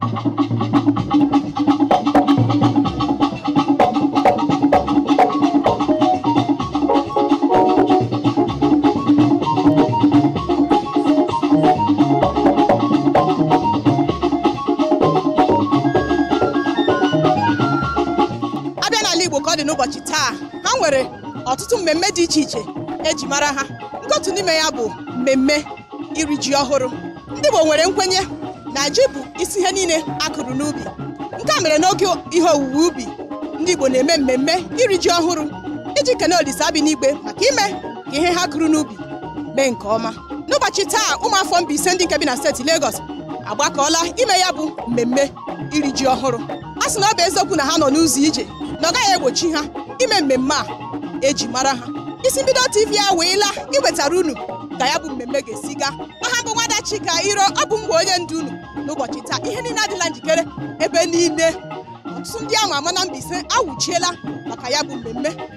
a bịa n'ala igbo ka ọ dị n'ụbọchị taa ha nwere ọtụtụ mmemme dị iche iche eji mara ha nke otu n'ime ya bụ mmemme iri ji ọhụrụ ndị Igbo nwere nkwenye na ji bụ isi ihe niile a kụrụ n'ubi nke a mere n'oge ihe owuwe ubi ndị Igbo na-eme mmemme iri ji ọhụrụ iji kene Olisa bi n'igwe maka ime ka ihe ha kụrụ n'ubi mee nke ọma n'ụbọchị taa ụmụafọ Mbaise ndị nke bi na steeti Lagos agbakọọla ime ya bụ mmemme iri ji ọhụrụ a sị na ọ bụ eziokwu na ha nọ n'ụzọ ije na ọ gaghị egbochi ha ime mmemme a eji mara ha isi mbido tv a wee laa iwetara unu ka ya bụ mmemme ga-esi gaa aha m bụ nwada chika iro ọ bụ m bụ onye ndu unu n'ụbọchị taa ihe niile adịla njikere ebe niile ọtụtụ ndị ama ama na Mbaise awụchiela maka ya bụ mmemme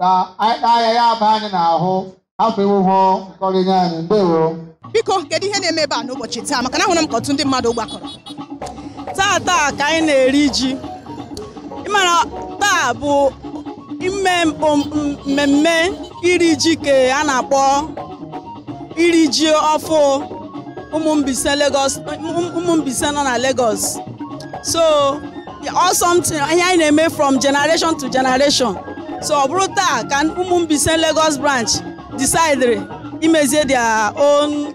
ka anyị taa ya ya aba anyị n'ahụ afọ ewuhụ nkọrịnye anyị ndewo biko kedu ihe na-eme ebe a n'ụbọchị taa maka na ahụrụ m ka ọtụtụ ndị mmadụ gbakọrọ taa taa ka anyị na-eri ji ị mara taa bụ ime mmemme iri ji nke a na-akpọ iri ji ọfụụ ụmụ Mbaise nọ na Lagos so Ọ wụ something ihe anyị na-eme from generation to generation. So ọ bụrụ taa ka ụmụ Mbaise Lagos branch decidere imezie their own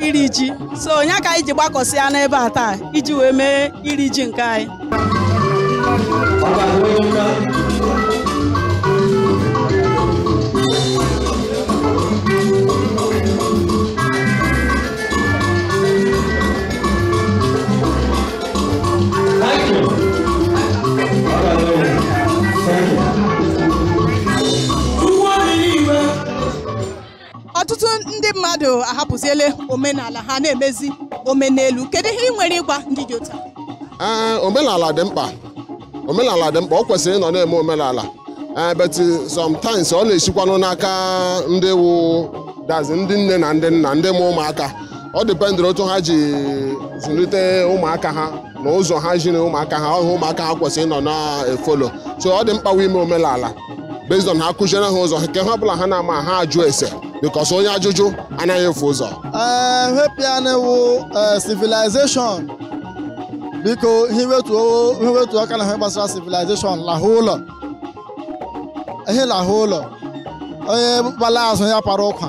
iri ji. So ọ ya ka anyị ji gbakọsịa n'ebe a taa iji wee mee iri ji nke anyị. ọtụtụ ndị mmadụ ahapụziele omenala ha na-emezi omenelu kedu ihe ị nwere ịgwa ndị dị otu a? ee omenala dị mkpa omenala dị mkpa ọ kwesịrị ịnọ na-eme omenala ee but sometimes ọ na-esikwanụ n'aka ndị wụ that is ndị nne na ndị nna ndị mụ ụmụaka ọ dependiri otu ha ji zụlite ụmụaka ha na ụzọ ha ziri ụmụaka ha ọhụ ụmụaka ha kwesịrị ịnọ na-efollow so ọ dị mkpa ime omenala based on ha kụziere ha ụzọ nke ha ọbụla ha na-ama ha ajụ ese because onye ajụjụ anaghị efu ụzọ ee hepianewu civilization biko hiwetu aka n'ihe gbasara civilization lahụ ụlọ ihe lahụ ụlọ onye gbala azụ ya para ụkwa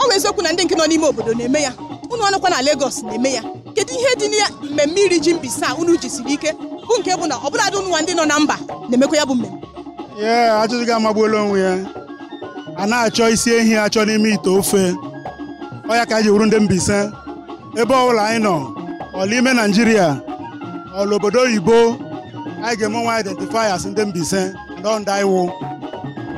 ọ bụ eziokwu na ndị nke nọ n'ime obodo na-eme ya ụnụnwa nọkwa na Lagos na-eme ya kedu ihe dị na mmemme iri ji Mbaise a unu jisiri ike bụ nke bụ na ọ bụladị ụnụnwa ndị nọ na mba na-emekwa ya bụ mmemme ee ajụjụ gị amagbuola onwe ya a na-achọ isi ehi achọ n'ime ite ofe ọ ya ka anyị ji wụrụ ndị Mbaise ebe ọbụla anyị nọ ọla ime Naijiria ọla obodo oyibo anyị ga-eme onwe identify as ndị Mbaise ndị anyị wụ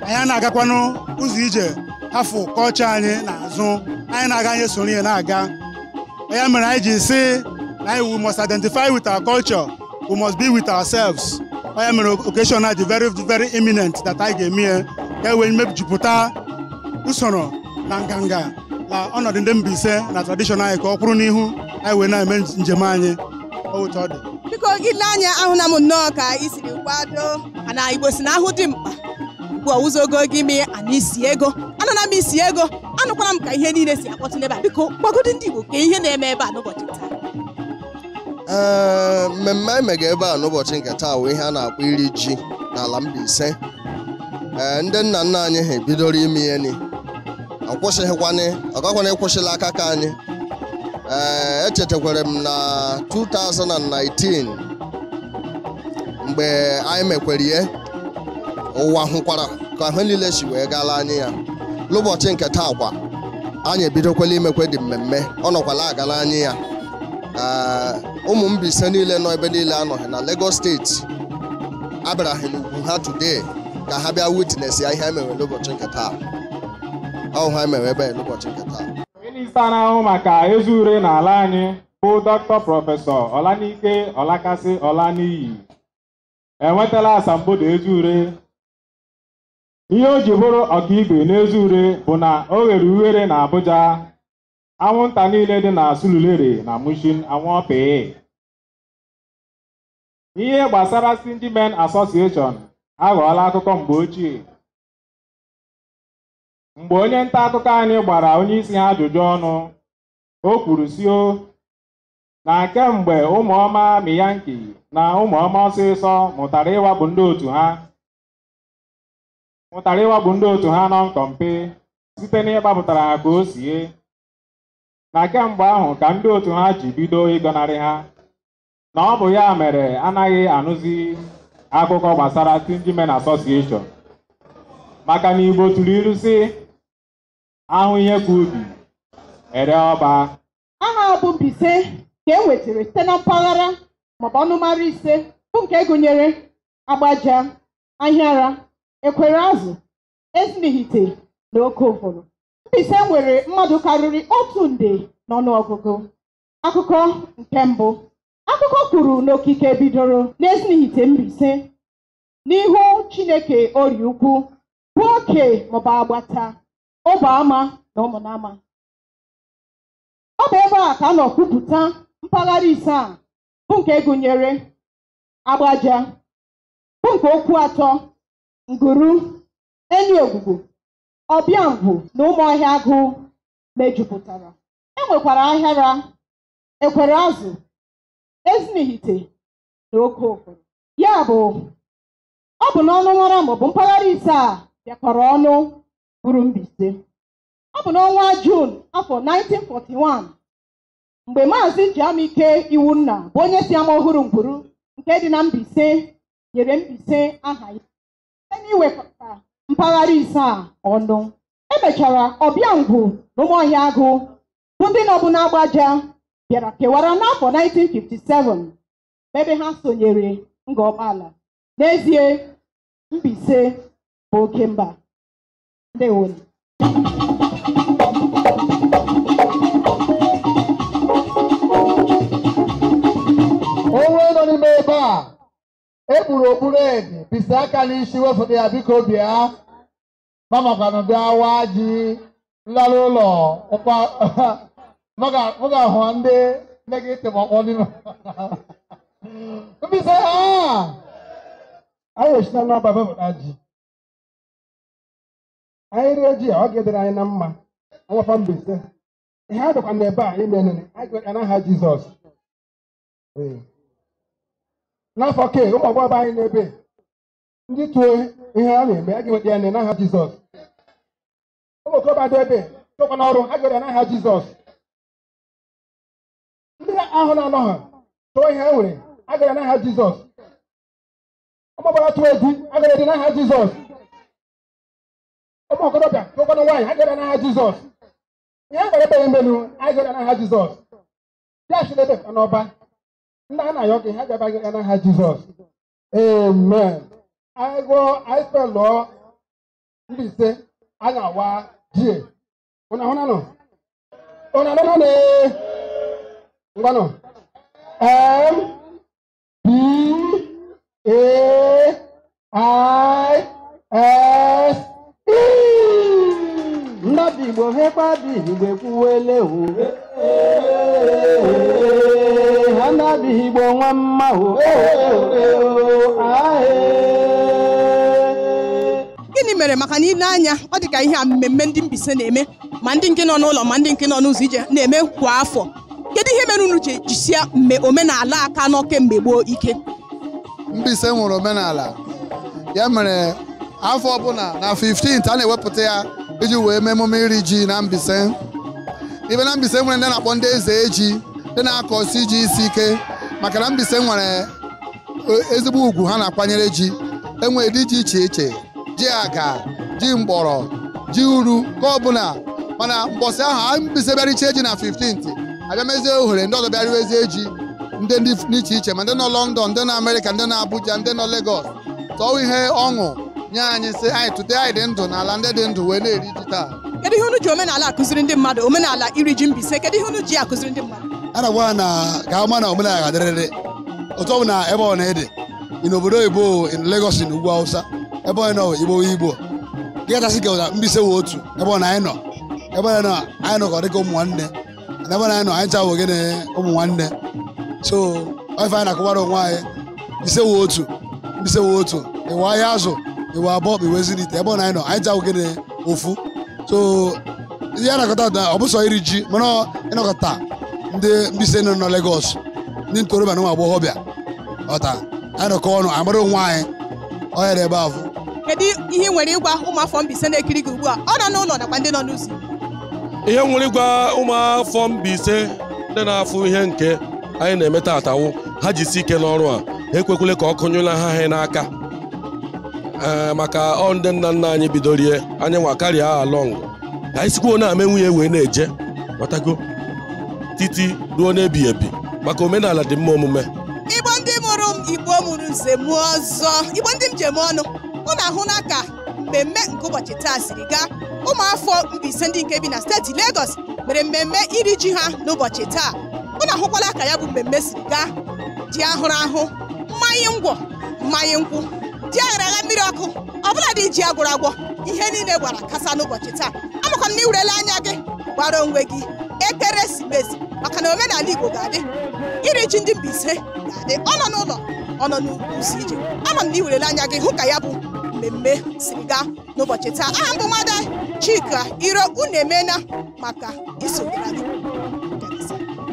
anyị a na-agakwanụ ụzọ ije hafụ culture anyị n'azụ anyị na-aga anyị soro ya na-aga ọ ya mere anyị ji sị na anyị we must identify with our culture we must be with ourselves ọ ya mere occasion a dị very very imminent that anyị ga-eme ya ka e wee mejupụta usoro na nganga na ọnọdụ ndị Mbaise na tradition anyị ka ọ kwụrụ n'ihu anyị wee na-eme njem anyị otu ọ dị biko gị lee anya ahụla m nnọọ ka i siri kwado mana Igbo sị na a hụ dimkpa ugbu a hụzie ogologo imi ya a nụ isi ego anụna m isi ego anụkwara m ka ihe niile si akpọtụ n'ebe a biko gwagodi ndị Igbo ka ihe na-eme ebe a n'ụbọchị taa ee mmemme anyị mega ebe a n'ụbọchị nke taa wụ ihe a na-akpọ iri ji n'ala Mbaise ee ndị nna nna anyị ha bidoro ime ihe ni ọ gakwanị ịkwụsị l'aka ke anyị ee echetakwara m na 2019 mgbe anyị mekwere ya ụwa hụkwara ka ihe niile si wee gaala anyị ya n'ụbọchị nke taa kwa anyị ebidokwala imekwe di mmemme ọ nọkwala agala anyị ya Ah, ụmụ Mbaise niile nọ ebe niile ha nọga na Lagos steeti abịaraga n'ugwu ha today ka ha bịa witness ya ihe anyị mewe n'ụbọchị nke taa ọ wụ ihe anyị mewe ebe a n'ụbọchị nke taa minista na-ahụ maka eze ure n'ala anyị bụ dọkịta prọfesọ Ọlanike Ọlakasị Ọlaniyi enwetala asambodo eze ure ihe o ji bụrụ ọkaibe n'eze ure bụ na o ghere ughere na Abuja anwụnta niile dị na Surulere na Mushin anwụọ pịị ihe gbasara Stingy Men Association aghọọla akụkọ mgbe ochie mgbe onye nta akụkọ anyị gbara onye isi ha ajụjụ ọnụ o kwuru sị o na kemgbe ụmụọma miyanki na ụmụọma ọsịsọ mụtara ịwakpo ndị otu ha mụtara ịwakpo ndị otu ha nọ nkọmpe site n'ịgbapụtara ha ka o sie na kemgbe ahụ ka ndị otu ha ji bido ịgọnarị ha na ọ bụ ya mere anaghị anụzi akụkọ gbasara Stingy Men Association maka na Igbo tụrụ ilu sị a hụ ihe ka ubi e ree ọba aha bụ Mbaise ka e nwetara site na mpaghara maọbụ ọnụmara ise bụ nke gụnyere Agbaja ahịara ekwereazụ ezinihite na oke uvuru Mbaise nwere mmadụ karịrị otu nde n'ọnụọgụgụ akụkọ nke mbụ akụkọ kwuru na okike bidoro n'ezinihite Mbaise n'ihu Chineke orie ukwu bụ oke maọbụ agbata ọbọama na ụmụnama ọ bụ ebe a ka a nọ kwupụta mpaghara ise a bụ nke gụnyere agbaja bụ nke okwuatọ nguru enyiogwugwu ọbịangwu na ụmụọhịagụ mejupụtara e nwekwara ahịara ekwereazụ ezinihite na oke uvuru ya bụ ọ bụ na ọnụmara maọbụ mpaghara ise a bịakọrọ ọnụ bụrụ Mbaise ọ bụ n'ọnwa Juun afọ 1941 mgbe maazị Jamike Iwunna bụ onye si amaọhụrụ nguru nke dị na Mbaise nyere Mbaise aha ya site n'iwekọta mpaghara ise a ọnụ e mechara ọbịangwu na ụmụọhịagụ bụ ndị nọbu n'agbaja bịara kewara n'afọ 1957 ebe ha sonyere Ngọ Ọkpala n'ezie Mbaise bụ oke mba ndewo nụ onye nọ n'ime ebe a e kpuru okpu red bisi aka n'isi wefụta ya biko bịa mamakwanụ bịa waa ji nlara ụlọ ụkwa mụ ga-ahụ ndị nne gị tịm ọkpọ n'ime Mbaise a anyị eshi n'ọba bepụta ji anyị rie ji a ọ ga-adịrị anyị na mma nwafọ mbaise ihe a dịkwa na ebe a ime nene anyị ga-ekpe n'aha jizọs Ee. n'afọ ke ụmụ agbọghọ anyị n'ebe ndị tụọ ihe a na-eme a ga-enweta ya nene n'aha jizọs ụmụ okorobịa dị ebe tụkwa n'ọrụ a ga-enweta ya n'aha jizọs ndị ahụ na-anọ ha tụọ ihe ha nwere a ga-enweta ya n'aha jizọs ọgbabara tụọ egwu agara dị n'aha jizọs ụmụ okorobịa tụkwanụ nwaanyị agara n'aha jizọs ihe mkpere ekpere menu agara n'aha jizọs ya si n'ebe ka n'ọba ndị a na-ayọ gị ha gabaghị ya n'aha jizọs amen anyị gụọ anyị spelụọ Mbaise anyị awa ji e ụna hụna nọ ụna nọ nọ ngwanụ em B A I S E. Ndị Igbo hekwa bi Igbo ekwuwele o. Ha ndị Igbo mma mma o. gịnị mere maka na i le anya ọ dị ka ihe a mmemme ndị Mbaise na-eme ma ndị nke nọ n'ụlọ ma ndị nke nọ n'ụzọ ije na-eme kwa afọ kedu ihe mere unu ji jisie mme omenala a ka nọ kemgbe gboo ike Mbaise nwere omenala ya mere afọ ọbụla na 15th a na-ewepụta ya iji wee mee emume iri ji na Mbaise ibe na Mbaise nwere ndị a na-akpọ ndị eze ji ndị na-akọsi ji isi ike maka na Mbaise nwere ezigbo ugwu ha na-akwanyere ji e nwere ụdị ji iche iche ji aga ji mgbọrọ ji uru ka ọbụla mana mbọsị ahụ anyị Mbaise bịa richee ji na 15th a bịa mezie ohere ndị ọzọ bịa riwezie ji ndị dị iche iche ma ndị nọ London ndị nọ Amerịka ndị nọ Abuja ndị nọ Lagos tọọ ihe ọṅụ nye anyị sị anyị tụte anyị dị ndụ n'ala ndị dị ndụ wee na-eri ji taa kedu ihe unu ji omenala akụziri ndị mmadụ omenala iri ji Mbaise kedu ihe unu ji akụziri ndị mmadụ a na-agwa na ka a ma na omenala ga-adịrịrị otu ọbụna ebe ọ na-ede in obodo oyibo in Lagos na ugwu Hausa ebe ọ nọ igbo igbo dịkachasị ka ụda Mbaise wụ otu ebe ọbụna anyị nọ ebe ọbụna anyị nọ ka ọ dịka ụmụ nwanne na ebe ọbụna anyị nọ anyị cha wụ gịnị ụmụ nwanne so ife anyị na-akọwara onwe anyị Mbaise wụ otu Mbaise wụ otu ị wụ Ahịazụ ị wụ Abọ ị wụ Ezinihitte ebe ọbụna anyị nọ anyị cha wụ gịnị ofu so ihe a nọkọtara ọ bụ sọ iri ji mana ọ ịnọkọta ndị Mbaise nọ na Lagos ndị ntorobịa na ụmụ agbọghọbịa ọ ka anyị nọkọọ ọnụ mara onwe anyị ọ ya dị ebe ahụ kedu ihe ị nwere ịgwa ụmụafọ Mbaise na-ekiri gị ugbu a ọ nọ n'ụlọ nakwa ndị nọ n'ụzọ ihe m nwere ịgwa ụmụafọ Mbaise ndị na-afụ ihe nke anyị na-eme taataa wụ ha jisi ike n'ọrụ a ha ekwekwele ka ọkụ nyụla ha ha n'aka ee maka ọ ndị nna nna anyị bidorie anyị nwa carry ya along ka anyị sikwuo na-emenwu ye wee na-eje matago titi ruo n'ebighị ebi maka omenala dị mma omume igbo ndị mụrụ m igbo mụrụ nze mụọ ọzọ igbo ndị m ji eme ọnụ unu ahụna ka mmemme nke ụbọchị taa siri gaa ụmụafọ Mbaise ndị nke bi na steeti Lagos mere mmemme iri ji ha n'ụbọchị taa unu ahụkwala ka ya bụ mmemme siri gaa ji ahụrụ ahụ mmanya ngwọ mmanya nkwụ ji aghara agha mmiri ọkụ ọbụla dị ji agwọrọ agwọ ihe niile gbara kasaa n'ụbọchị taa amakwa m na i werela anya gị gbara onwe gị ekeresimesi maka na omenala igbo ga-adị iri ji ndị Mbaise ga-adị ọ nọ n'ụlọ ọ nọ n'ụzọ ije ama m na i werela anya gị hụ ka ya bụ mmemme siri gaa n'ụbọchị taa aha m bụ nwada Chika Iro unu emeela maka isonyere anyị